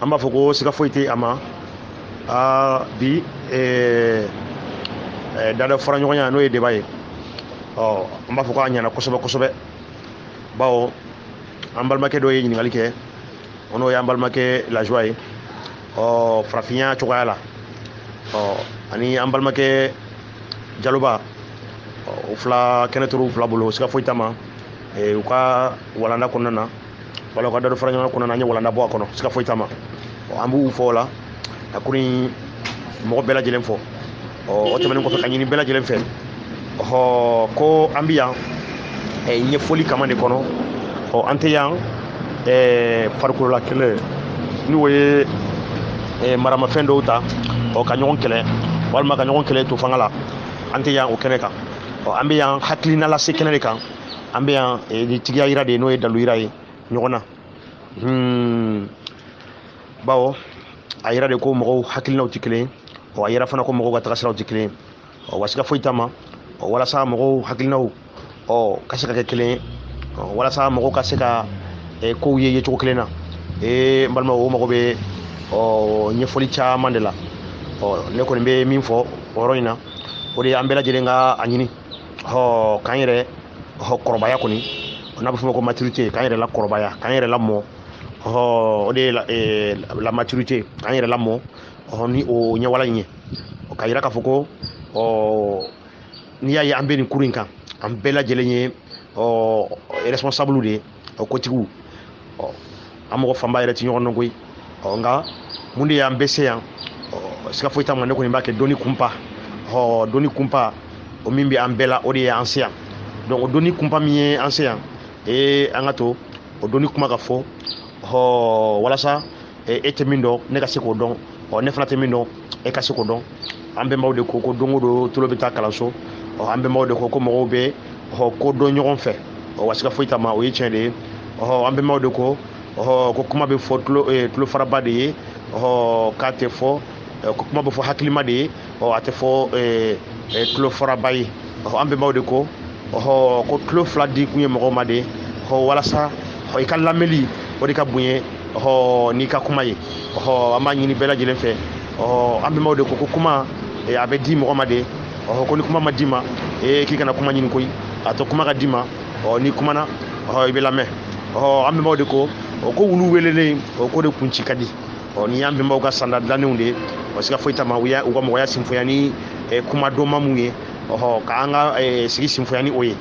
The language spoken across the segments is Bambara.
an b'a fɔ ko siga foyi tɛ a ma aa bi eh, eh, dada fara ɲɔgɔnya n'o ye débat ye ɔ an b'a fɔ k'a ɲɛna kosɛbɛ kosɛbɛ bawo an balimakɛ dɔ ye ɲininkali kɛ o n'o y'an balimakɛ lajoie ye ɔ farafinya cogoya la ɔ ani an balimakɛ jaloba o fila kɛnɛ turu fila bolo siga foyi t'a ma eh, u ka walanda kɔnɔna na wala u ka dada fara ɲɔgɔn kɔnɔna na an ye walanda bɔ a kɔnɔ siga foyi t'a ma an b'u fo o la ka kuru in mɔgɔ bɛɛ lajɛlen fo o tɛmɛnen kɔfɛ ka ɲini bɛɛ lajɛlen fɛ ɔhɔ ko an bɛ yan ɲɛfɔli kama de kɔnɔ ɔ an tɛ yan farikolola kɛlɛ n'o ye maramafɛn dɔw ta ɔ ka ɲɔgɔn kɛlɛ walima ka ɲɔgɔn kɛlɛ to fanga la an tɛ yan o kɛnɛ kan ɔ an bɛ yan hakilina lase kɛnɛ de kan an bɛ yan eh, ni tigiya yira de ye n'o ye dalu yira ye ɲɔgɔn na hmm. bawo a yira de ko mɔgɔw hakilinaw tɛ kelen ɔ a yira fana ko mɔgɔw ka tagasiraw tɛ kelen ɔ wa siga foyi t'a ma ɔ walasa mɔgɔw hakilinaw ɔ ka se ka kɛ kelen ye ɔ walasa mɔgɔw ka se ka eh, kow ye yecogo kelen na ee n balima o mago bɛ ɔ ɲɛfɔli caman de la ɔ ne kɔni bɛ min fɔ o yɔrɔ in na o de ye an bɛɛ lajɛlen ka a ɲini hɔ k'an yɛrɛ hɔ kɔrɔbaya kɔni n'a bɛ f'o ma ko maturité k'an yɛrɛ lakɔrɔbaya k'an yɛrɛ lamɔ hɔ o de ye la, eh, la maturité k'an yɛrɛ lamɔ hɔ ni o ɲɛwala in ye ka yira k'a fɔ ko ɔ n'i y'a ye an bɛ nin kuru in kan an bɛɛ lajɛlen ye ɔ responsable de ye ɔ kotigiw ɔ an mɔgɔ fanba yɛrɛ ti ɲɔgɔn dɔn koyi ɔ nka mun de y'an bɛɛ se yan ɔ siga foyi t'a ma ne kɔni b'a kɛ dɔnni kunpa ɔ dɔnni kunpa o min bɛ an bɛɛ la o de ye an se yan donc o dɔnni kunpa min ye an se yan ee an ka to o dɔnni kuma ka fɔ ɔ walasa e tɛ min dɔn ne ka se k'o dɔn ɔ ne fana tɛ min dɔn e ka se k'o dɔn an bɛnbaw de ko ko don o don tulo bɛ taa kalanso ɔ an bɛnbaw de ko ko mɔgɔw bɛ ɔ ko dɔn ɲɔgɔn fɛ ɔ wa siga foyi t'a ma o ye tiɲɛ de ye ɔ an bɛnbaw de ko ɔ ko kuma bɛ fɔ tulo ee tulo faraba de ye ɔ k'a tɛ fɔ ko kuma bɛ fɔ hakilima de ye ɔ a tɛ fɔ tulo faraba ye ɔ an bɛnbaw de ko ɔhɔ ko tulo fila di kun ye mɔgɔw ma de ɔ walasa ɔ i ka lamɛnli o de ka bonya ɔhɔ n'i ka kuma ye ɔhɔ an b'a ɲini bɛɛ lajɛlen fɛ ɔhɔ an bɛnbaw de ko ko kuma a bɛ di mɔgɔ ma de ɔhɔ ko ni kuma ma d'i ma ee k'i kana kuma ɲini koyi a to kuma ka d'i ma ɔ n'i kumana ɔhɔ i bɛ lamɛn ɔhɔ an bɛnbaw de ko o ko wulu welelen o ko de kun ci ka di ɔ ni y'an bɛnbaw ka sanda dilannenw de ye ɔ siga foyi t'a ma u y'a u ka mɔgɔya sinfoya ni eh, kuma dɔnma mun ye ɔhɔ k'an ka eh, sigi sinfoya ni o ye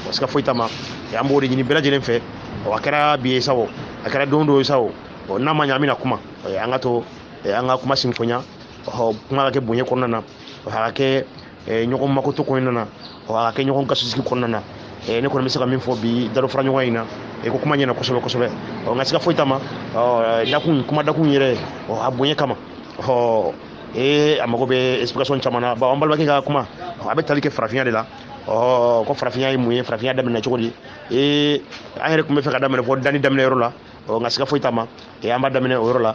ɔ siga foyi t'a ma eh, an b'o de ɲini bɛɛ lajɛlen fɛ ɔ a kɛra bi ye sa o a kɛra don dɔ ye sa o ɔ n'a ma ɲɛ an bɛna kuma eh, an ka to eh, an ka kuma sinfoya ɔhɔ kuma ka kɛ bonya kɔnɔna na ɔhɔ a ka kɛ ɲɔgɔn makoto kɔnɔna na a kɛ ɲɔgɔn gasisigi kɔnɔna na ne kɔni bɛ se ka min fɔ bi dalo fara ɲɔgɔn in na ko kuma ɲɛna kosɛbɛ kosɛbɛ ɔ nka siga foyi t'a ma dakun kuma dakun yɛrɛ a bonya kama ɔ ee a mago bɛ explication caman na bon an balimakɛ ka kuma a bɛ tali kɛ farafinya de la ɔ ko farafinya ye mun ye farafinya daminɛ cogo di ee an yɛrɛ tun bɛ fɛ ka daminɛ fɔ danni daminɛ yɔrɔ la ɔ nka siga foyi t'a ma an b'a daminɛ o yɔrɔ la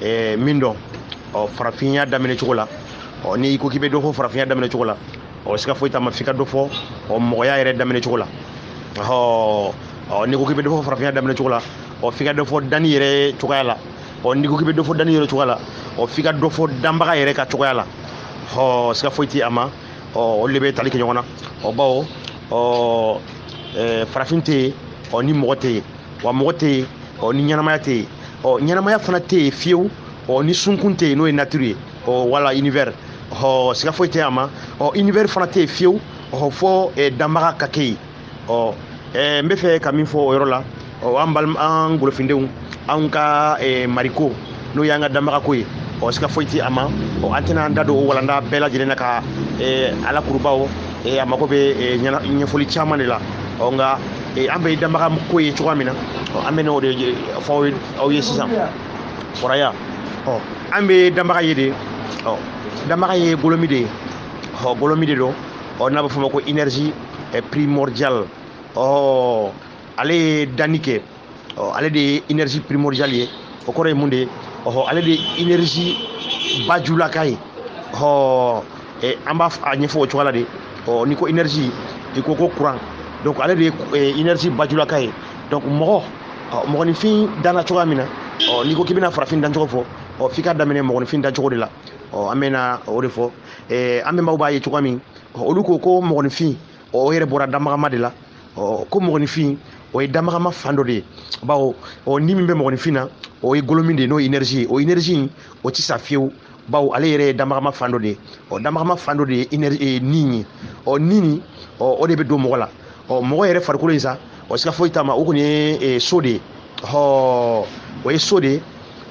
ɛɛ min dɔn ɔ farafinya daminɛ cogo la ɔ n'i ko k'i bɛ dɔ fɔ farafinya daminɛ cogo la ɔ siga foyi t'a ma f'i ka dɔ fɔ ɔ mɔgɔya yɛrɛ daminɛ cogo la ɔ ɔ n'i ko k'i bɛ dɔ fɔ farafinya daminɛ cogo la ɔ f'i ka dɔ fɔ danni yɛrɛ cogoya la ɔ n'i ko k'i bɛ dɔ fɔ danni yɛrɛ cogoya la ɔ f'i ka dɔ fɔ danbaga yɛrɛ ka cogoya la ɔ siga foyi tɛ a ma ɔ olu de bɛ tali kɛ ɲɔgɔn na ɔ bawo ɔ farafin tɛ yen ɔ ni mɔgɔ tɛ yen wa mɔgɔ tɛ yen ɔ ni ɲɛnamaya tɛ yen ɔ ɲɛnamaya fana tɛ yen fiyewu ɔ ni sunkun tɛ yen n'o ye nature ye ɔ wala univers ɔ siga foyi tɛ a ma ɔ univers fana tɛ yen fiyewu ɔ fɔ eh, danbaga ka kɛ yen ɔ eh, n bɛ fɛ ka min fɔ o yɔrɔ la ɔ an balima an golofindenw anw ka eh, mariko n'o y'an ka danbagako ye ɔ siga foyi tɛ a ma ɔ an tɛna an da don o walanda bɛɛ lajɛlen na ka eh, a lakuru bawo eh, a mago bɛ eh, ɲɛna- ɲɛfɔli caman de la ɔ nka eh, an bɛ danbaga ko ye cogoya min na ɔ an bɛna o de ye- fɔ aw ye- aw ye sisan fɔraya ɔ an bɛ danbaga ye de ɔ danbaga ye golomi de ye ɔ golomi de don ɔ n'a bɛ f'o ma ko énergie eh, primordiale ɔ ale ye danni kɛ ɔ ale de ye énergie primordiale ye o kɔrɔ ye mun de ye ɔhɔ ale de ye énergie bajulaka ye ɔ an b'a a ɲɛfɔ o cogoya la de ɔ n'i ko énergie i ko ko courant donc ale de ye énergie bajulaka ye donc mɔgɔ mɔgɔninfin danna cogoya min na ɔ n'i ko k'i bɛna farafin dancogo fɔ ɔ f'i ka daminɛ mɔgɔninfin dancogo de la ɔ an bɛna o de fɔ an bɛnbaw b'a ye cogoya min olu ko ko mɔgɔninfin ɔ o yɛrɛ bɔra damagama de la ɔ ko mɔgɔninfin o ye damagama fan dɔ de ye bawo ɔ ni min bɛ mɔgɔninfin na o ye golomin de ye n'o ye énergie ye o énergie in o tɛ sa fiyewu bawo ale yɛrɛ ye damagama fan dɔ de ye ɔ damagama fan dɔ de ye inɛri e, ni ye ɔ ni in ɔ o de bɛ don mɔgɔ la ɔ mɔgɔ yɛrɛ farikolo in sa ɔ siga foyi t'a ma o kɔni ye e, so de ye hɔɔ o ye so de ye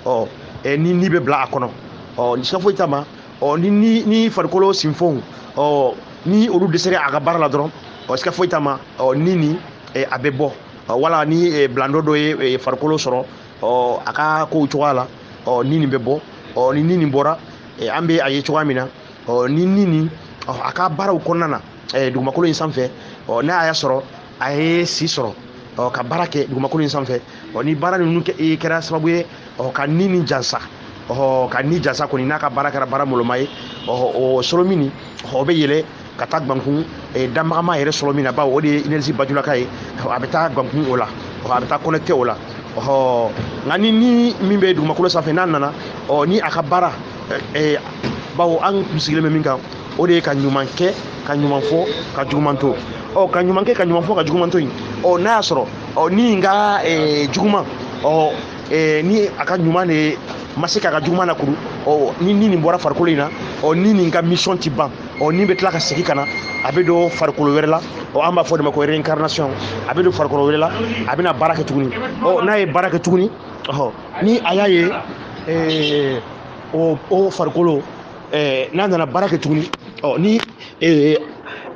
ɔ e, ni ni bɛ bila a kɔnɔ ɔ siga foyi t'a ma ɔ ni ni ni farikolo sinfonw ɔ ni olu dɛsɛra a ka baara la dɔrɔn ɔ sika foyi t'a ma ɔ ni nin eh, a bɛ bɔ ɔ wala ni eh, bilandɔ dɔ ye eh, farikolo sɔrɔ ɔ a ka kow cogoya la ɔ ni nin bɛ bɔ ɔ ni ni nin bɔra eh, an bɛ a ye cogoya min na ɔ ni ni nin ɔ a ka baaraw kɔnɔna na eh, dugumakolo in sanfɛ ɔ n'a y'a sɔrɔ a ye si sɔrɔ ɔ ka baara kɛ dugumakolo in sanfɛ ɔ ni baara ninnu e kɛra sababu ye ɔ ka ni ni jansa ɔ ka ni jansa kɔni n'a ka baara kɛra baara mɔlɔnma ye ɔ o solomi nin ɔ bɛ yɛlɛ ka taa gbankun e, danbagama yɛrɛ solomi na bawo o de ye énergie bajulaka ye a bɛ taa gbankun o la a bɛ taa connecté o la ɔ nka ni ni min bɛ dugumakolo sanfɛ n'a nana ɔ ni a ka baara e, bawo an sigilen bɛ min kan o de ye ka ɲuman kɛ ka ɲuman fɔ ka juguman to ɔ ka ɲuman kɛ ka ɲuman fɔ ka juguman to yen ɔ n'a y'a sɔrɔ ɔ ni nin ka eh, juguman ɔ eh, ni a ka ɲuman de ma se k'a ka juguman lakuru ɔ ni ni nin bɔra farikolo in na ɔ ni nin ka mission ti ban ɔ ni bɛ tila ka segin ka na a bɛ don farikolo wɛrɛ la ɔ an b'a fɔ de ma ko réincarnation a bɛ don farikolo wɛrɛ la a bɛna baara kɛ tuguni ɔ n'a ye baara kɛ tuguni ɔ ni a y'a ye eh, o o farikolo eh, n'a nana baara kɛ tuguni ɔ ni eh,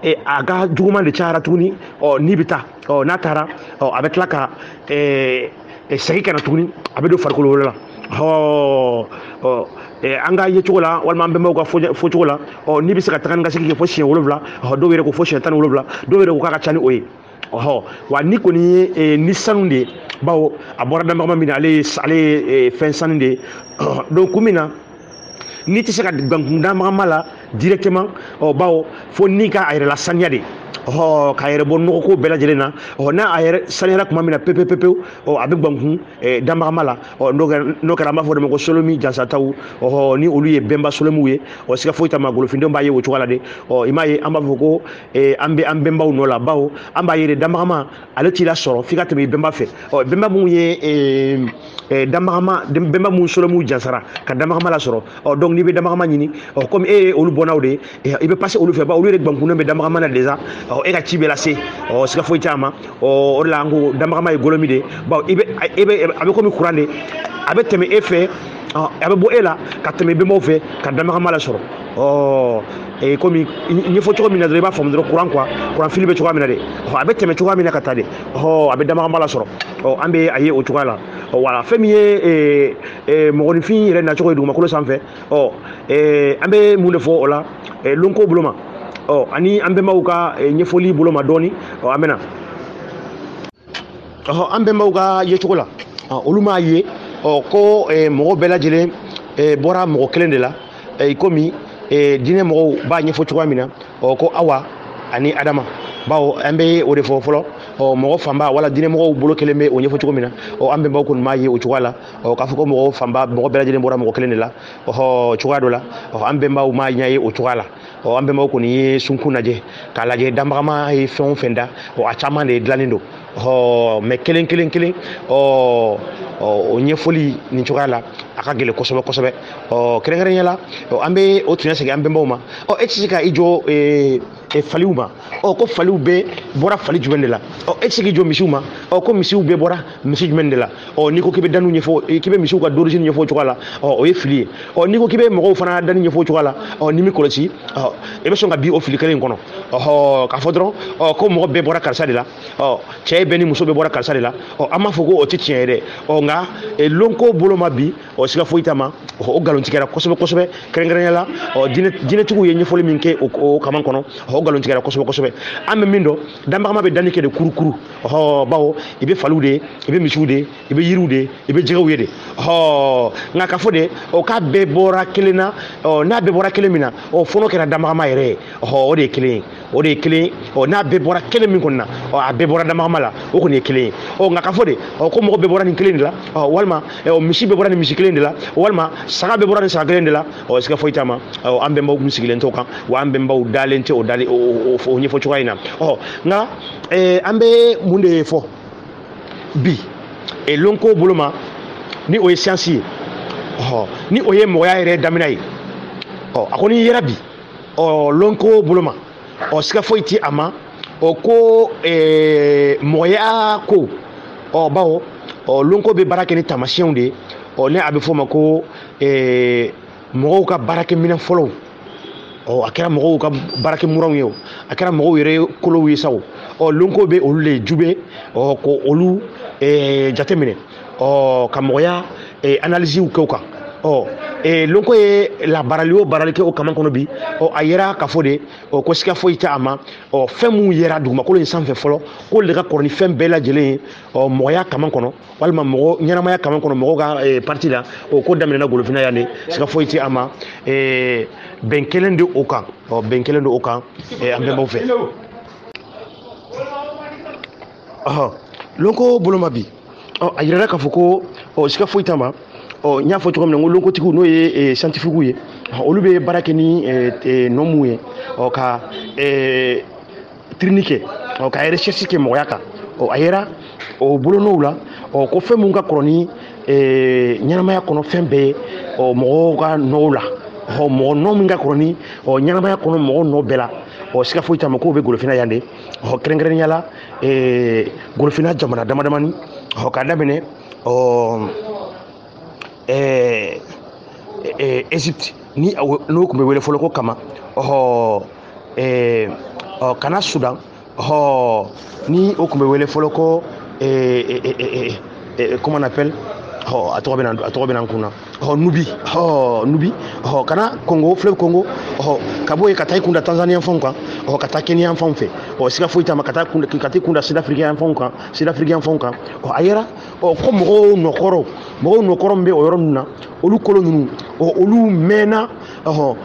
eh, a ka juguman de cayara tuguni ɔ ni bɛ taa ɔ n'a taara ɔ a bɛ tila ka eh, eh, segin ka na tuguni a bɛ don farikolo wɛrɛ la ɔ ɔ eh, an ka yecogo la walima an bɛnbaw ka fɔ- fɔcogo la ɔ ni bɛ se ka taga ni ka segin kɛ fo siɲɛ wolonwula ɔ dɔw yɛrɛ ko fo siɲɛ tan ni wolonwula dɔw yɛrɛ ko k'a ka ca ni o ye ɔhɔ wa ni kɔni ye eh, ni sanu de ye bawo a bɔra danbagama min na ale ye ale ye eh, fɛn sanu de ye donc kun min na ni tɛ se ka gbankun danbagama la directement ɔ bawo fo ni ka a yɛrɛ lasaniya de ɔ k'a yɛrɛ bɔ nɔgɔko bɛɛ lajɛlen na ɔ n'a a yɛrɛ saniyara tuma min na pepepepewu ɔ a bɛ gbankun eh, danbagama la ɔ n'o kɛra n'o kɛra an b'a fɔ o de ma ko solomi jansataw ɔhɔ ni olu ye bɛnba solomiw ye ɔ siga foyi t'a ma golofindenw b'a ye o cogoya la de ɔ i m'a ye an b'a fɔ ko Eh, an bɛ an bɛnbaw nɔ la bawo an b'a ye de danbagama ale t'i lasɔrɔ f'i ka tɛmɛ i bɛnba fɛ ɔ bɛnba minnu ye eh, eh, danbagama bɛnba minnu solomiw jansara ka danbagama lasɔrɔ ɔ donc n'i bɛ danbagama ɲini ɔ komi e ye olu bɔnnaw de ye i bɛ passer olu fɛ bawo olu yɛrɛ gbankunnen bɛ danbagama na déjà ɔ e ka ci bɛ lase ɔ siga foyi t'a ma ɔ o de la an ko danbagama ye golomi de ye bawo i bɛ e bɛ a bɛ komi kuran de a bɛ tɛmɛ e fɛ a bɛ bɔ e la ka tɛmɛ bɛnbaw fɛ ka danbagama lasɔrɔ ɔ ee eh, komi ɲɛfɔ cogo min na dɔrɔn i b'a faamu dɔrɔn kuran quoi kuran fili bɛ cogoya min na de ɔ a bɛ tɛmɛ cogoya min na ka taa de ɔ a bɛ danbagama lasɔrɔ ɔ an bɛ a ye o cogoya la ɔ voilà fɛn min ye ee eh, ee eh, mɔgɔninfin yɛrɛ nacogo ye dugumakolo sanfɛ ɔ ee an bɛ mun de fɔ o la ee lɔnko bolo ma ɔ ani an bɛnbaw ka ɲɛfɔli bolo ma dɔɔni ɔ an bɛna ɔhɔ an bɛnbaw ka yecogo la olu m'a ye ɔ ko mɔgɔ bɛɛ lajɛlen bɔra mɔgɔ kelen de la i komi diinɛ mɔgɔw b'a ɲɛfɔ cogoya min na ɔ ko awa ani adama bawo an bɛ o de fɔ fɔlɔ ɔ mɔgɔ fanba wala diinɛ mɔgɔw bolo kelen bɛ o ɲɛfɔ cogo min na ɔ an bɛnbaw kɔni m'a ye o cogoya la ɔ k'a fɔ ko mɔgɔ fanba mɔgɔ bɛɛ lajɛlen bɔra mɔgɔ kelen de la ɔhɔ cogoya dɔ la ɔ an bɛnbaw m'a ɲɛ ye o cogoya la ɔ an bɛnbaw kɔni ye sunkun lajɛ k'a lajɛ danbagama ye fɛn o fɛn da ɔ a caman de dilannen don ɔ mɛ kelen kelen kelen ɔ o ɲɛfɔli nin cogoya la a ka gɛlɛn kosɛbɛ kosɛbɛ ɔ kɛrɛnkɛrɛnya la an bɛ o tiɲɛ segin an bɛnbaw ma ɔ e tɛ se ka i jɔ ee e, faliw ma ɔ ko faliw bɛɛ bɔra fali jumɛn de la ɔ e tɛ se k'i jɔ misiw ma ɔ ko misiw bɛɛ bɔra misi jumɛn de la ɔ n'i ko k'i bɛ danni ɲɛfɔ k'i bɛ misiw ka origine ɲɛfɔ o cogoya la ɔ o ye fili ye ɔ n'i ko k'i bɛ mɔgɔw fana danni ɲɛfɔ o cogoya la ɔ n'i m'i kɔlɔsi ɔ i bɛ sɔn ka bin o fili kelen in kɔnɔ ɔhɔ k'a fɔ dɔrɔn ɔ ko mɔgɔ bɛɛ bɔra karisa de la ɔ cɛ bɛɛ ni muso bɛɛ bɔra karisa de la ɔ an m'a fɔ ko o tɛ tiɲɛ ye dɛ ɔ nka lonko bolo ma bi ɔ siga foyi t'a ma o nkalon tigɛra kosɛbɛ kosɛbɛ kɛrɛnkɛrɛnnenya la ɔ diinɛtigiw ye ɲɛfɔli min kɛ o kaman kɔnɔ o nkalon tigɛra kosɛbɛ kosɛbɛ an bɛ min dɔn danbagama bɛ danni kɛ de kurukuru ɔhɔ bawo i bɛ faliw de i bɛ misiw de i bɛ yiriw de i bɛ jɛgɛw ye de ɔhɔ nka k'a fɔ de ɔ k'a bɛɛ bɔra kelen na ɔ n'a bɛɛ bɔra kelen min na ɔ fo n'o kɛra danbagama yɛrɛ ye ɔhɔ o de ye kelen ye o de ye kelen ye ɔ n'a bɛɛ bɔra kelen min kɔni na ɔ a bɛɛ bɔra danbagama la o kɔni ye kelen ye ɔ nka k'a fɔ de ɔ ko mɔgɔ bɛɛ bɔra nin kelen de la ɔ walima ɔ misi bɛɛ bɔra nin misi kelen de la walima saga bɛɛ bɔra nin saga kelen de la ɔ siga foyi t'a ma ɔ an bɛnbaw tun sigilen t'o kan wa an bɛnbaw dalen tɛ o dalen o ɲɛfɔ cogoya in na ɔ nka eh, an bɛ mun de fɔ bi eh, lonko bolo ma ni o ye siyansi ye ɔ ni o ye mɔgɔya yɛrɛ daminɛ ye ɔ a kɔni yera bi ɔ lonko bolo ma ɔ siga foyi tɛ a ma ɔ ko eh, mɔgɔya ko ɔ bawo ɔ lonko bɛ baara kɛ ni taamasiyɛnw de ye ɔ ni a bɛ f'o ma ko ɛɛ mɔgɔw ka baarakɛminɛn fɔlɔw ɔ a kɛra mɔgɔw ka baarakɛmuranw ye o a kɛra mɔgɔw yɛrɛ kolow ye sa o ɔ lonko bɛ olu le jubɛ ɔ ka olu ɛɛ jateminɛ ɔ ka mɔgɔya ɛɛ analisiw kɛ o kan ɔ ee lonko ye labaarali o baarali kɛ o kaman kɔnɔ bi ɔ a yera k'a fɔ de ɔ ko siga foyi tɛ a ma ɔ fɛn minnu yera dugumakolo in sanfɛ fɔlɔ k'olu de ka kɔrɔ ni fɛn bɛɛ lajɛlen ye ɔ mɔgɔya kaman kɔnɔ walima mɔgɔ ɲɛnamaya kama kɔnɔ mɔgɔw ka eh, parti la o ko daminɛna golofinna yan de siga foyi tɛ a ma eh, bɛn kɛlen de o kan ɔ bɛn kɛlen de o kan eh, an bɛnbaw fɛ ɔhɔ lonko bolo ma bi ɔ a yirala k'a fɔ ko ɔ siga foyi t'a ma ɔ n y'a fɔ cogo min na n ko lonkotigiw n'o ye santifigiw ye olu bɛ baara kɛ ni nɔmuw ye ɔ ka tirini kɛ ɔ ka recherche kɛ mɔgɔya kan ɔ a yera o bolonɔw la ɔ ko fɛn mun ka kɔrɔ ni eh, ɲɛnamaya kɔnɔ fɛn bɛɛ ye ɔ mɔgɔw ka nɔw la ɔ mɔgɔ nɔ min ka kɔrɔ ni ɔ ɲɛnamaya kɔnɔ mɔgɔ nɔ bɛɛ la ɔ siga foyi t'a ma k'o bɛ golofina yan de ɔ kɛrɛnkɛrɛnnenya la eh, golofina jamana damadamani ɔ k'a daminɛ ɔ ɛɛ ɛɛ egypte ni n'o tun bɛ wele fɔlɔ ko kama ɔhɔ ɛɛ ɔ ka na sudan ɔhɔ ni o tun bɛ wele fɔlɔ ko ɛɛ ɛɛ ɛɛ ɛɛ comment on appelle ɔ a tɔgɔ bɛ na a tɔgɔ bɛ na n kun na ɔ nubi ɔ nubi ɔ ka na kongo fleuve kongo ɔ ka bɔ yen ka taa i kun da tanzaniya fanw kan ɔ ka taa keniya fanw fɛ ɔ siga foyi t'a ma ka taa kun ka t'i kun da sud-africain fanw kan sud-africain fanw kan ɔ a yera ɔ ko mɔgɔw nɔkɔrɔw mɔgɔw nɔkɔrɔ min bɛ o yɔrɔ ninnu na olu kolo ninnu ɔ olu mɛnna ɔhɔn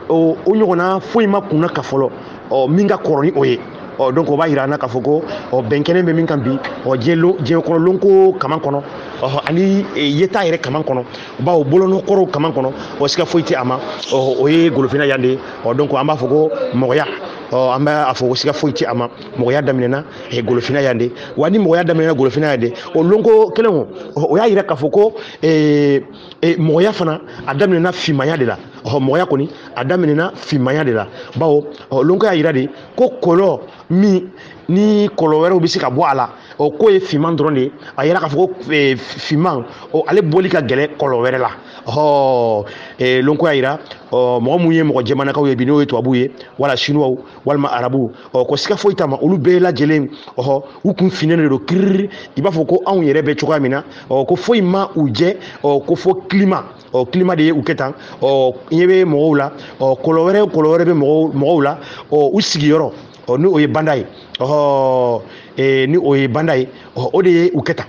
o o ɲɔgɔnna foyi ma kunnaka fɔlɔ ɔ min ka kɔrɔ ni o ye ɔ donc o b'a yira an na k'a fɔ ko ɔ bɛn kɛlen bɛ min kan bi ɔ diɲɛ diɲɛ kɔnɔ lonko kaman kɔnɔ ɔhɔ ani yeta yɛrɛ kaman kɔnɔ bawo bolonɔkɔrɔw kaman kɔnɔ ɔ siga foyi tɛ a ma ɔ o ye golofina yan de ye ɔ donc an b'a fɔ ko mɔgɔya ɔ an bɛ a fɔ ko siga foyi tɛ a ma mɔgɔya daminɛna eh, golofina yan de wa ni mɔgɔya daminɛna golofina yan de o lonko kelen o o y'a yira k'a fɔ ko eh, eh, mɔgɔya fana a daminɛna finmaya de la ɔhɔ mɔgɔya kɔni a daminɛna finmaya de la bawo ɔ lonko y'a yira de ko kɔlɔ min ni kɔlɔ wɛrɛw bɛ se ka bɔ a la o k'o ye finman dɔrɔn de ye a yira k'a fɔ ko eh, finman o ale bɔli ka gɛlɛn kɔlɔ wɛrɛ la ɔhɔ eh, lonko y'a yira ɔ mɔgɔ minnu ye mɔgɔ jɛmanakaw ye bi n'o ye tubabuw ye wala sinuwaw walima arabu ɔ ko siga foyi t'a ma olu bɛɛ lajɛlen ɔhɔ u kun finnen de don kiriri i b'a fɔ ko anw yɛrɛ bɛ cogoya min na ɔ ko foyi ma u jɛ ɔ ko fo climat ɔ climat de ye u kɛ tan ɔ ɲɛ bɛ mɔgɔw la ɔ kɔlɔ wɛrɛ o kɔlɔ wɛrɛ bɛ mɔgɔw mɔgɔw la ɔ u sigiyɔrɔ ɔ ni o ye banda ye ɔhɔ ee ni o ye banda ye ɔ o de ye u kɛ tan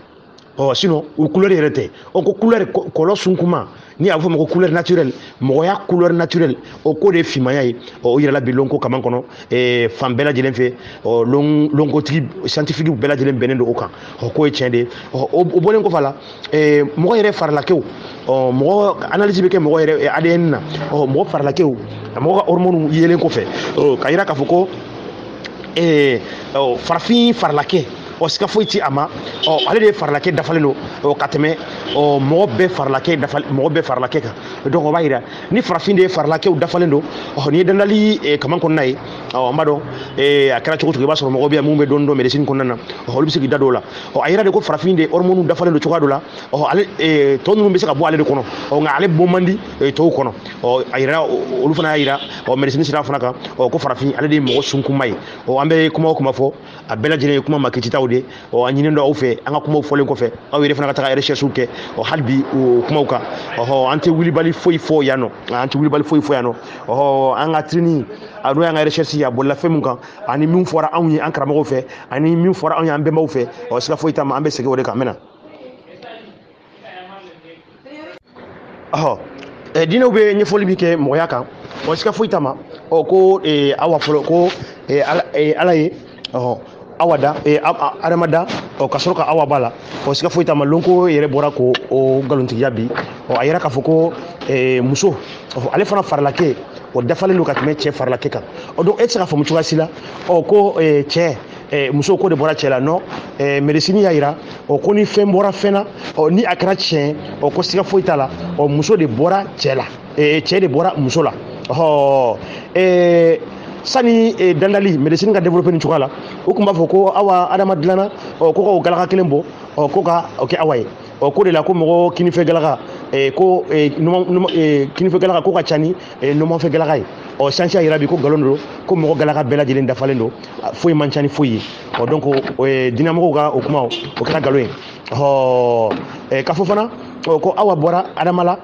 ɔ sinon o couleur yɛrɛ tɛ ɔ ko couleur kɔlɔ sunkuma ni a bɛ fɔ o ma ko couleur naturelle mɔgɔya couleur naturelle o k'o de ye finmaya ye ɔ o yɛrɛ la bi lonko kaman kɔnɔ ɛɛ fan bɛɛ lajɛlen fɛ ɔ lon lonkotigi scientifique bɛɛ lajɛlen bɛnnen don o kan ɔ k'o ye tiɲɛ de ye ɔ o bɔlen kɔfɛ a la ɛɛ mɔgɔ yɛrɛ farilakɛw ɔ mɔgɔ analyse bɛ kɛ mɔgɔ yɛrɛ ADN na ɔ mɔgɔ farilakɛw mɔgɔ ka hormones yelen kɔfɛ ɔ k'a yira k'a fɔ ko ɛɛ farafin farilakɛ ɔ siga foyi ti a ma ɔ ale de ye farilakɛ dafalen don ɔ ka tɛmɛ ɔ mɔgɔ bɛɛ farilakɛ dafa mɔgɔ bɛɛ farilakɛ kan donc o b'a yira ni farafin de ye farilakɛw dafalen don ɔ n'i ye dandali eh, kaman kɔnɔna ye ɔ an b'a dɔn eh, a kɛra cogo o cogo i b'a sɔrɔ mɔgɔ bɛ yan minnu bɛ dɔɔni dɔn médecine kɔnɔna na ɔ olu bɛ se k'i da don o la ɔ a yira de ko farafin de ye hormone dafalen don cogoya dɔ la ɔ ale eh, tɔ ninnu bɛ se ka bɔ ale de kɔnɔ ɔ nka ale bɔ man di eh, tɔw kɔnɔ ɔ a yira olu fana y'a yira ɔ médecine sira fana kan ɔ ko farafin ale de ye mɔgɔ sunkunma ye ɔ an bɛ kuma o kuma fɔ a bɛɛ lajɛlen ye kuma makititaw de ɔ a ɲininen don aw fɛ an ka kumaw fɔlen kɔfɛ aw yɛrɛ fana ka taga recherchew kɛ ɔ hali bi o kumaw kan ɔhɔ an tɛ wulibali foyi fɔ yan nɔ an tɛ wulibali foyi fɔ yan nɔ ɔhɔ an ka tirini a n'o y'an ka recherche ye a bolila fɛn min kan ani min fɔra anw ye an karamɔgɔw fɛ ani min fɔra anw ye an bɛnbaw fɛ ɔ siga foyi t'a ma an bɛ segin o de kan n bɛ na ɔ eh, diinɛw bɛ ɲɛfɔli min kɛ mɔgɔya kan ɔ siga foyi t'a ma ɔ ko eh, awa fɔlɔ ko eh, ala, eh, ala ye ɔ awa da eh, adama da ɔ ka sɔrɔ ka awa b'a la ɔ siga foyi t'a ma lonko yɛrɛ bɔra ka o nkalontigiya bi ɔ a yira k'a fɔ ko eh, muso ɔ ale fana farilakɛ o dafalen don ka tɛmɛ cɛ farilakɛ kan ɔ donc e tɛ se k'a faamu cogoya si la ɔ ko eh, cɛ eh, muso k'o de bɔra cɛ la non eh, médecine y'a yira ɔ ko ni fɛn bɔra fɛn na ɔ ni a kɛra tiɲɛ ɔ ko siga foyi t'a la ɔ muso de bɔra cɛ la eh, cɛ de bɔra muso la ɔ eh, sani eh, dandali médecine ka développer nin cogoya la u tun b'a fɔ ko awa adama dilanna ɔ ko ka o galaka kelen bɔ ɔ ko ka o kɛ awa ye ɔ k'o de la ko mɔgɔ kinifɛ galaka eh, ko eh, numa- numa- eh, kinifɛ galaka k'o ka ca ni e numanfɛ galaka ye ɔ science y'a yira bi ko nkalon don ko mɔgɔ galaka bɛɛ lajɛlen dafalen don foyi man ca ni foyi ye ɔ donc diinɛmɔgɔw ka o kuma o kɛra nkalon ye ɔ k'a fɔ fana ko awa bɔra adama la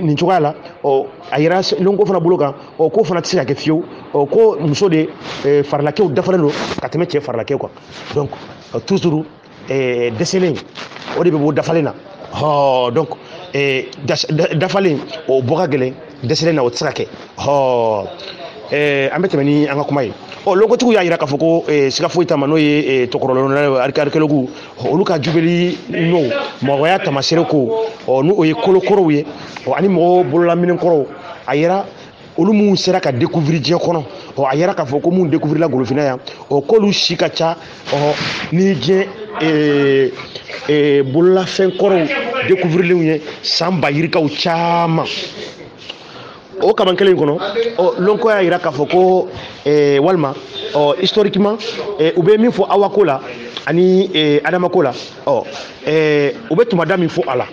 nin cogoya la ɔ a yira lonko fana bolo kan ɔ k'o fana tɛ se ka kɛ fiyewu ɔ ko muso de farilakɛw dafalen don ka tɛmɛ cɛ farilakɛw kan donc toujours eh, dɛsɛlen o de bɛ bɔ dafalen na hɔɔ donc eh, dafalen o bɔ ka gɛlɛn dɛsɛlen na o tɛ se ka kɛ hɔɔ eh, an bɛ tɛmɛ ni an ka kuma ye ɔ lonkotigiw y'a yira k'a fɔ ko eh, siga foyi t'a ma n'o ye eh, tɔkɔrɔlɔnna archéologues olu ka jubɛli n'o mɔgɔya taamaseere ko ɔ n'o ye kolokɔrɔw ye ɔ ani mɔgɔw bololaminɛn kɔrɔw a yira olu minnu sera ka découvrir diɲɛ kɔnɔ ɔ a yira k'a fɔ ko minnu découvrirla golofinna yan ɔ k'olu si ka ca ɔ ni diɲɛ ee ee bololafɛn kɔrɔw découvrirlenw ye san ba yirikaw caman o kaman kelen in kɔnɔ ɔ lonko y'a yira k'a fɔ ko ee walima ɔ historiquement ee u bɛ min fɔ awako la ani ee adamako la ɔ ɛɛ u bɛ tumada min fɔ a la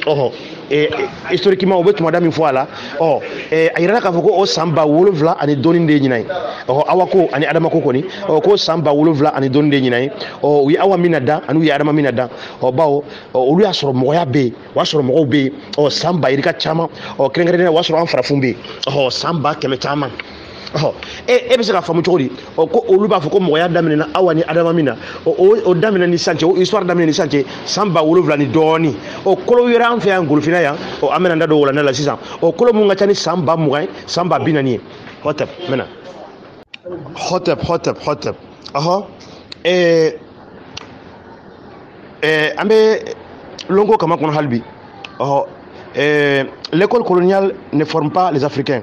ɔhɔ ɛɛ historiquement u bɛ tumada min fɔ a la ɔ ɛɛ a yirala k'a fɔ ko o san ba wolonwula ani dɔɔni de ye ɲinan ye ɔhɔ awa ko ani adama ko kɔni ɔ k'o san ba wolonwula ani dɔɔni de ye ɲinan ye ɔ u ye awa min na dan ani u ye adama min na dan ɔ bawo ɔ olu y'a sɔrɔ mɔgɔya bɛ yen o y'a sɔrɔ mɔgɔw bɛ yen ɔ san ba yirika caman ɔ kɛrɛnkɛrɛnnenya o y'a sɔrɔ an farafinw bɛ yen ɔhɔ san ba kɛmɛ caman ɔ e e bɛ se ka faamu cogo di ɔ ko olu b'a fɔ ko mɔgɔya daminɛna awa ni adama min na o o daminɛ ni sisan cɛ o histoire daminɛ ni sisan cɛ san ba wolonwula ni dɔɔni o kolow yera an fɛ yan golofina yan ɔ an bɛna an da don walanda la sisan o kolo mun ka ca ni san ba mugan ye san ba bi naani ye hɔtɛp n bɛna hɔtɛp hɔtɛp hɔtɛp ɔhɔ ɛɛ ɛɛ an bɛ lonko kama kɔnɔ hali bi ɔhɔ ɛɛ l'école coloniale ne forme pas les africains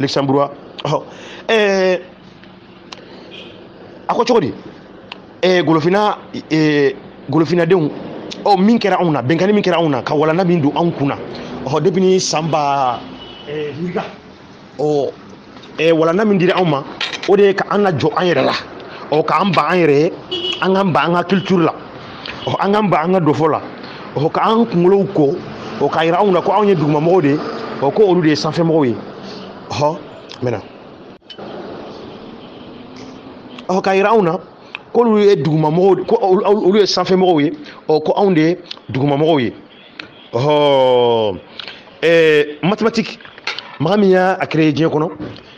luxembourgeois ɔ ɛɛ a ko cogo di ɛɛ golofina ɛɛ golofinadenw ɔ min kɛra anw na binkanni min kɛra anw na ka walanda min don anw kun na ɔ depuis ni san ba ɛɛ yirika ɔ ɛɛ walanda min dira anw ma o de ye ka an lajɔ an yɛrɛ la ɔ k'an ban an yɛrɛ ye an k'an ban an ka culture la ɔ an k'an ban an ka dɔfɔ la ɔ ka an kunkolow ko ɔ k'a yira anw na ko anw ye dugumamɔgɔw de ye ɔ ko olu de ye sanfɛmɔgɔw ye ɔ maintenant ɔ k'a yira anw na k'olu ye dugumamɔgɔw ko olu ye sanfɛmɔgɔw ye ɔ ko anw de ye dugumamɔgɔw ye ɔhɔ ɛɛ mathématique maa min y'a créé diɲɛ kɔnɔ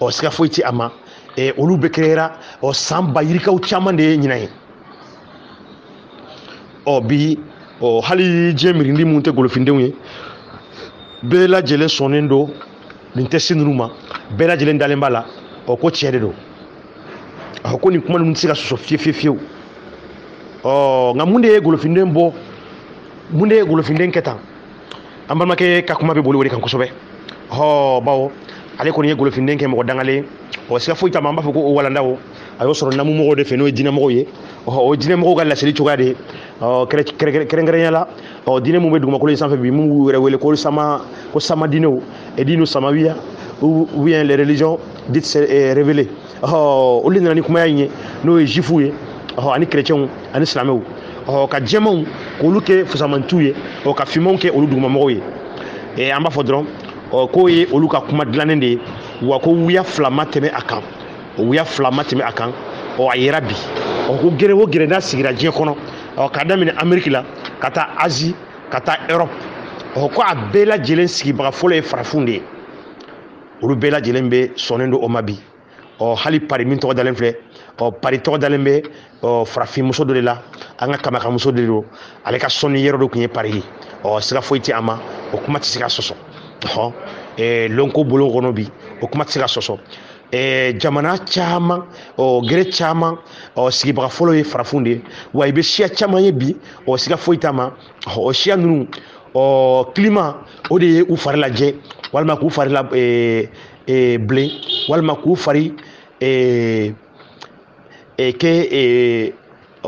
ɔ siga foyi tɛ a ma ɛ olu bɛɛ créera ɔ san ba yirikaw caman de ye ɲinan ye ɔ bi ɔ hali diɲɛ mirindi minnu tɛ golofindenw ye bɛɛ lajɛlen sɔnnen don nin thèse ninnu ma bɛɛ lajɛlen dalen b'a la ɔ ko tiɲɛ de don ɔ ko nin kuma ninnu tɛ se ka sɔsɔ fiye fiye fiyewu ɔ nka mun de ye golofinden bɔ mun de ye golofinden kɛ tan an balimakɛ ka kuma bɛ boli o de kan kosɛbɛ hɔ bawo ale kɔni ye golofinden kɛ mɔgɔ dangalen o siga foyi t'a ma an b'a fɔ ko o walandaw a y'o sɔrɔ namumɔgɔw de fɛ n'o ye diinɛmɔgɔw ye ɔhɔ o diinɛmɔgɔw ka laseli cogoya de ye kɛrɛnkɛrɛnya la ɔ diinɛ min bɛ dugumakolo in sanfɛ bi min b'u yɛrɛ wele ko sama ko sama diinɛw edinu samawiya ou bien les religions dites révélées ɔ olu de nana ni kumaya in ye n'o ye zuwifuw ye ɔ ani kerecɛnw ani silamɛw ɔ ka jɛmanw k'olu kɛ fusamantiw ye ɔ ka finmanw kɛ olu dugumamɔgɔw ye ee an b'a fɔ dɔrɔn ɔ k'o ye olu ka kuma dilannen de ye wa ko wuya fila ma tɛmɛ a kan o wuya fila ma tɛmɛ a kan ɔ a yera bi ɔ ko gere o gere n'a sigira diɲɛ kɔnɔ ɔ k'a daminɛ ameriki la ka taa azi ka taa erɔpu ɔ ko a bɛɛ lajɛlen sigibaga fɔlɔ ye farafinw de ye olu bɛɛ lajɛlen bɛ sɔnnen don o ma bi ɔ hali pari min tɔgɔ dalen filɛ ɔ pari tɔgɔ dalen bɛ ɔ farafinmuso dɔ de la an ka kamakamuso de don ale ka sɔnni yɔrɔ dɔ tun ye pari ye ɔ siga foyi tɛ a ma o kuma tɛ se ka sɔsɔ ɔ ɛɛ lɔnko bolo kɔnɔ bi o kuma tɛ se ka sɔsɔ Eh, jamana caman ɔ gɛrɛ caman ɔ sigibaga fɔlɔ ye farafinw de ye wa i bɛ siya caman ye bi ɔ siga foyi t'a ma o siya ninnu ɔ climat o de ye u fari lajɛ walima k'u fari la ee ee bilen walima k'u fari ee ee kɛ ee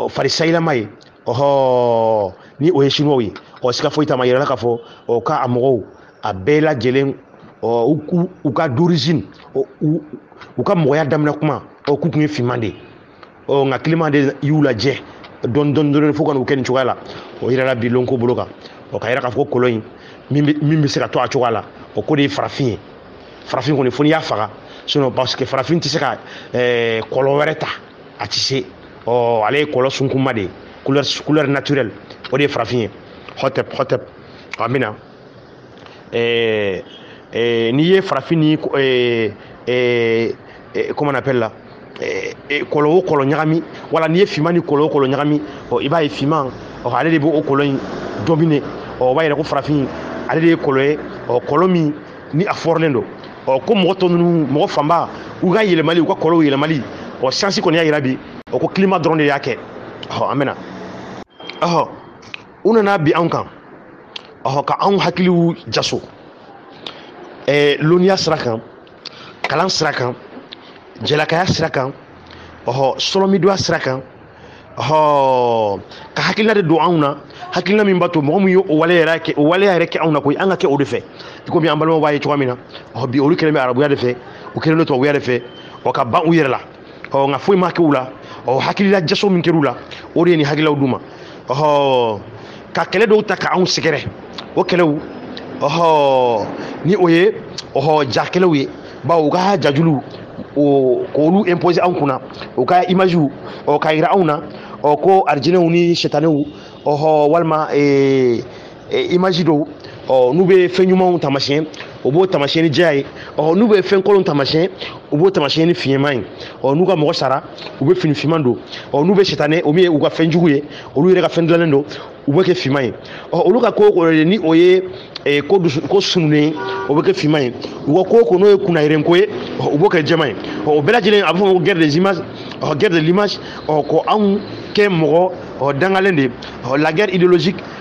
fari sayilama ye ɔhɔ ni o ye siniwaw ye ɔ siga foyi t'a ma yirala k'a fɔ ɔ ka a mɔgɔw a bɛɛ lajɛlen ɔ u ka d'origine u ka mɔgɔya daminɛ kuma ɔ k'u tun ye finman de ye ɔ nka climat de y'u lajɛ dɔɔni dɔɔni dɔɔni fo ka n'u kɛ nin cogoya la o yirala bi lɔnko bolo kan o k'a yira k'a fɔ ko kɔlɔ in min bɛ se ka to a cogoya la ɔ k'o de ye farafin ye farafin kɔni fo n'i y'a faga sinon parce que farafin tɛ se ka ɛɛ kɔlɔ wɛrɛ ta a tɛ se ɔ ale ye kɔlɔ sunkunma de ye couleur couleur naturelle o de ye farafin ye hɔtɛp hɔtɛp an bɛna eh, eh, n'i ye farafin ni eh, eh, eh, comment on appelle là eh, eh, kɔlɔ o kɔlɔ ɲagami wala n'i ye finman ni kɔlɔ o kɔlɔ ɲagami ɔ i b'a ye finman ɔ ale de b'o kɔlɔ in dominer ɔ o b'a yira ko farafin ale de ye kɔlɔ ye ɔ kɔlɔ min ni a fɔrɔlen don ɔ ko mɔgɔ tɔ ninnu mɔgɔ fanba u ka yɛlɛmali u ka kɔlɔw yɛlɛmali ɔ siyansi kɔni y'a yira bi ɔ ko climat dɔrɔn de y'a kɛ ɔ an bɛna ɔhɔ u nana bin anw kan ɔhɔ ka anw hakiliw jaso ɛɛ lɔnniya sira kan kalan sira kan jɛlakaya sira kan ɔhɔ sɔlɔmidoya sira kan ɔhɔ ka hakilina de don anw na hakilina min b'a to mɔgɔ min ye o waleya yɛrɛ kɛ anw na koyi an ka kɛ o de fɛ i komi an balimaw b'a ye cogoya min na ɔhɔ bi olu kɛlen bɛ arabuya de fɛ u kɛlen don tubabuya de fɛ ɔ ka ban u yɛrɛ la ɔ nka foyi ma kɛ u la ɔ hakilila jaso min kɛr'u la o de ye nin hakililaw d'u ma ɔhɔ ka kɛlɛ dɔw ta ka anw sɛgɛrɛ o kɛlɛw ɔhɔ ni o ye ɔhɔ ja kɛlɛw ye bawo u ka jajuluw o k'olu imposer anw kunna u ka imagew ɔ k'a yira anw na ɔ ko arijinɛw ni sɛtanɛw ɔhɔ walima ee image dɔw ɔ n'u bɛ fɛn ɲumanw taamasiyɛn u b'o taamasiyɛn ni jɛya ye ɔ n'u bɛ fɛn kolonw taamasiyɛn u b'o taamasiyɛn ni finman ye ɔ n'u ka mɔgɔ sara u bɛ fini finman don ɔ n'u bɛ sitanɛ o min ye u ka fɛn jugu ye olu yɛrɛ ka fɛn dilannen don u bɛ kɛ finman ye ɔ olu ka ko o ye ni o ye ee, ko dusu ko sununnen ye o bɛ kɛ finman ye u ka ko ko n'o ye kunnayiren ko ye ɔ, u b'o kɛ jɛman ye ɔ, o bɛɛ lajɛlen a bɛ fɔ o ma ko guerre des images ɔ, guerre de l'image ɔ, ko anw kɛ mɔgɔ ɔ, dangalen de ye ɔ, la guerre idéologique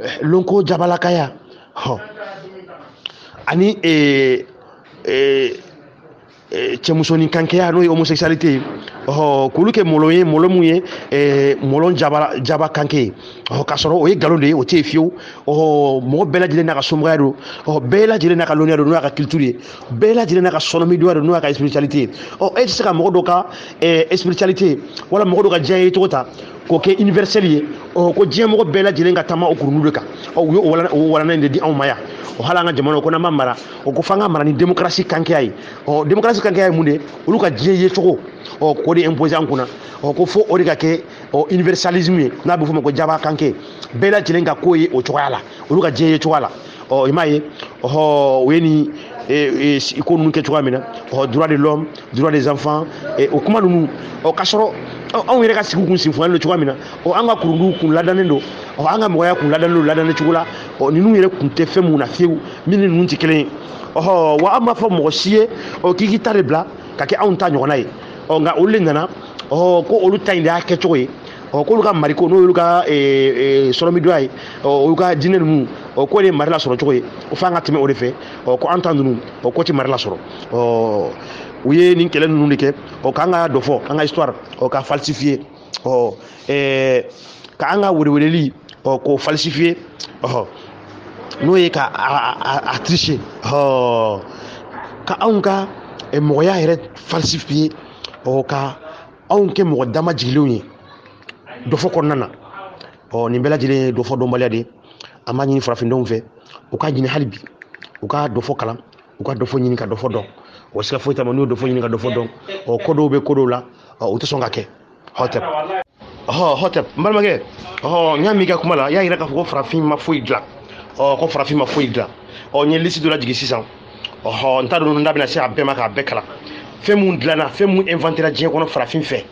eh, lonko jabalakaya hɔn ani eh, eh, eh, cɛmusonin kankeya n'o ye homosexualité ye ɔhɔ k'olu kɛ mɔlɔ ye mɔlɔ mun ye eh, mɔlɔ jaba jaba kanke ye ɔhɔ k'a sɔrɔ o ye nkalon de ye o tɛ yen fiyewu ɔhɔ mɔgɔ bɛɛ lajɛlen n'a ka somɔgɔya don ɔhɔ bɛɛ lajɛlen n'a ka lɔnniya don n'o y'a ka culture ye bɛɛ lajɛlen n'a ka sɔnɔmidonya don n'o y'a ka spiritualité ye ɔ e tɛ se ka mɔgɔ dɔ ka eh, spiritualité wala mɔgɔ dɔ ka diɲɛ ye cogo ta k'o kɛ universel ye ɔ ko diɲɛmɔgɔ bɛɛ lajɛlen ka taama o kurundu de kan ɔ u ye o walanda in de di anw ma yan o hali an ka jamana ko n'an b'a mara o ko f'an k'a mara ni démocratie kankeya ye ɔ démocratie kankeya ye mun de ye olu ka diɲɛ ye cogo ɔ k'o de imposer an kunna ɔ ko fo o de ka kɛ ɔ universalisme ye n'a bɛ f'o ma ko jaba kanke bɛɛ lajɛlen ka ko ye o cogoya la olu ka diɲɛ ye cogoya la ɔ i m'a ye ɔhɔ o ye nin ko ninnu kɛ cogoya min na ɔhɔ droit de l'homme droit des enfants et o kuma ninnu ɔ k'a sɔrɔ anw yɛrɛ ka sigi kun sinfɔlen don cogoya min na ɔ an ka kurunduw kun ladannen don ɔ an ka mɔgɔya kun ladannen don ladannen cogo la ɔ ninnu yɛrɛ kun tɛ fɛn mun na fiyewu min ni ninnu tɛ kelen ye ɔhɔ wa an m'a fɔ mɔgɔ si ye ɔ k'i k'i ta de bila ka kɛ anw ta ɲɔgɔnna ye ɔ nka olu de nana ɔ ko olu ta in de y'a kɛcogo ye ɔ k'olu ka mariko n'o y'olu ka sɔrɔmidoya ye ɔ olu ka diinɛ ninnu ɔ k'o de ye mari lasɔrɔ cogo ye o f'an ka tɛmɛ o de fɛ ɔ ko an ta ninnu ɔ k'o tɛ mari lasɔrɔ ɔ u ye nin kɛlɛ ninnu de kɛ ɔ k'an ka dɔfɔ an ka histoire ɔ k'a falsifier ɔ ɛɛ ka an ka weleweleli ɔ k'o falsifier ɔhɔ n'o ye ka a tricher ɔ ka anw ka mɔgɔya yɛrɛ falsifier ɔ ka anw kɛ mɔgɔ dama jigilenw ye dɔfɔ kɔnɔna na ɔ nin bɛɛ lajɛlen ye dɔfɔ dɔnbaliya de ye an b'a ɲini farafindenw fɛ u k'a ɲini hali bi u ka dɔfɔ kalan u ka dɔfɔ ɲini ka dɔfɔ dɔn o siga foyi t'a ma n'u ye dɔfɔ ɲini ka dɔfɔ dɔn ɔ ko dɔw bɛ ko dɔw la ɔ u tɛ sɔn ka kɛ hɔtɛp ɔhɔ hɔtɛp n balimakɛ ɔhɔ n y'a m'i ka kuma la i y'a yira k'a fɔ ko farafin ma foyi dilan ɔ ko farafin ma foyi dilan ɔ n ye lisi dɔ lajigin sisan ɔhɔ n t'a dɔn n da bɛna se a bɛɛ ma k'a bɛɛ kalan fɛn mun dilanna fɛn mun inventera diɲɛ kɔnɔ farafin fɛ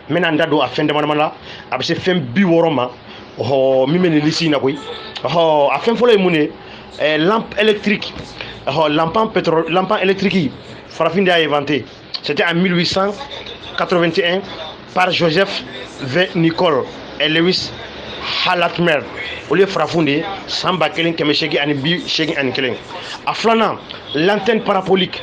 n bɛna n da don a fɛn damadama la a bɛ se fɛn bi wɔɔrɔ ma ɔhɔ min bɛ nin lisi in na koyi ɔhɔ a fɛn fɔlɔ ye mun de ye eh, lampe électrique ɔhɔ lampan pétrole lampan électrique farafin de y'a inventé c'était en 1881 par Joseph V Nichols et Lewis H Latimer olu ye farafinw de ye san ba kelen kɛmɛ seegin ani bi seegin ani kelen a filanan l'antenne parabolique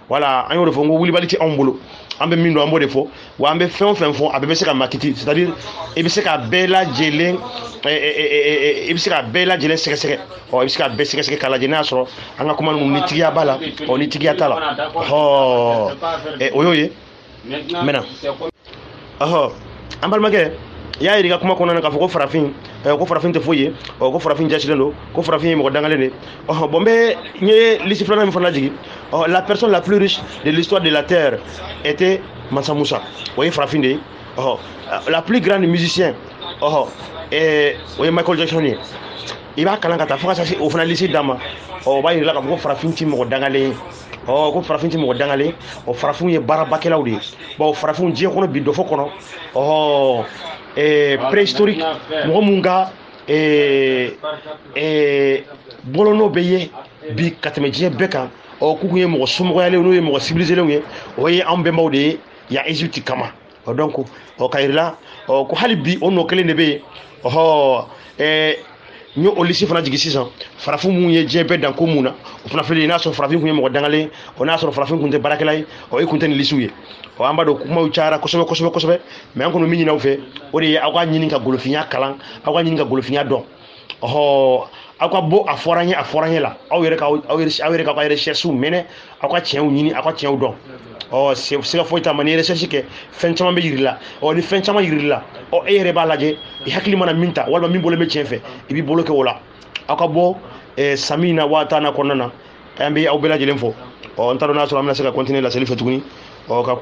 voilà an y'o de fɔ n ko wulibali tɛ anw bolo an bɛ min dɔn an b'o de fɔ wa an bɛ fɛn o fɛn fɔ a bɛɛ bɛ se ka makiti c'est à dire i bɛ se ka bɛɛ lajɛlen i bɛ se ka bɛɛ lajɛlen sɛgɛsɛgɛ ɔ i bɛ se ka bɛɛ sɛgɛsɛgɛ k'a lajɛ n'a y'a sɔrɔ an ka kuma ninnu ni tigiya b'a la ɔ ni tigiya t'a la ɔ o y'o ye mɛna ɔhɔ an balimakɛ y'a yirika kuma kɔnɔna na k'a fɔ ko farafin eh, ko farafin tɛ foyi ye ko farafin jaasilen don ko farafin ye mɔgɔ dangalen de ɔhɔn bon bɛ n ye lisi filanan min fana jigin ɔhɔ la personne la plus riche de l'histoire de la terre était mansa musa o ye farafin de ye ɔhɔ la plus grande musicien ɔhɔ eh, o ye michael jackson ye i b'a kalan ka taa fo ka taa se o fana lisi dan ma ɔ o b'a yirila k'a fɔ ko farafin ti mɔgɔ dangalen ye ɔ ko farafin ti mɔgɔ dangalen o farafinw ye baarabakɛlaw de ye bon farafinw diɲɛ kɔnɔ bi dɔfɔ kɔnɔ ɔhɔ eh, préhistorique mɔgɔ mun ka eh, eh, bolonɔ bɛ ye bi ka tɛmɛ diɲɛ bɛɛ kan ɔ k'u kun ye mɔgɔ somɔgɔyalen n'o ye mɔgɔ sibilizelenw ye o ye anw bɛnbaw de ye yan egypte kama ɔ donc o k'a yirila ɔ ko hali bi o nɔ kelen de bɛ yen ɔhɔ ɛɛ n ye o lisi fana jigin sisan farafin minnu ye diɲɛ bɛɛ dan ko mun na o fana filɛ nin n'a sɔrɔ farafin kun ye mɔgɔ dangalen o n'a sɔrɔ farafin kun tɛ baarakɛla ye ɔ e kun tɛ nin lisiw ye ɔ an b'a dɔn kumaw cayara kosɛbɛ kosɛbɛ kosɛbɛ mais an kɔni min ɲin'aw fɛ o de ye aw ka ɲini ka golofinya kalan aw ka ɲini ka golofinya dɔn ɔhɔ aw ka bɔ a fɔra n ye a fɔra n ye la aw yɛrɛ ka aw yɛrɛ aw yɛrɛ ka aw ka recherche minɛ aw ka tiɲɛw ɲini aw ka tiɲɛw dɔn ɔ siga foyi t'a ma n'i ye recherche kɛ fɛn caman bɛ yir'i la ɔ ni fɛn caman yir'i la ɔ e yɛrɛ b'a lajɛ i hakili mana min ta walima min bolo bɛ tiɲɛ fɛ i b'i bolo kɛ o la aw ka bɔ eh, samina wa atana kɔnɔna na an bɛ aw bɛɛ lajɛlen fo ɔ n t'a dɔn n'a sɔrɔ an bɛna se ka continuer laseli fɛ tuguni ɔ ka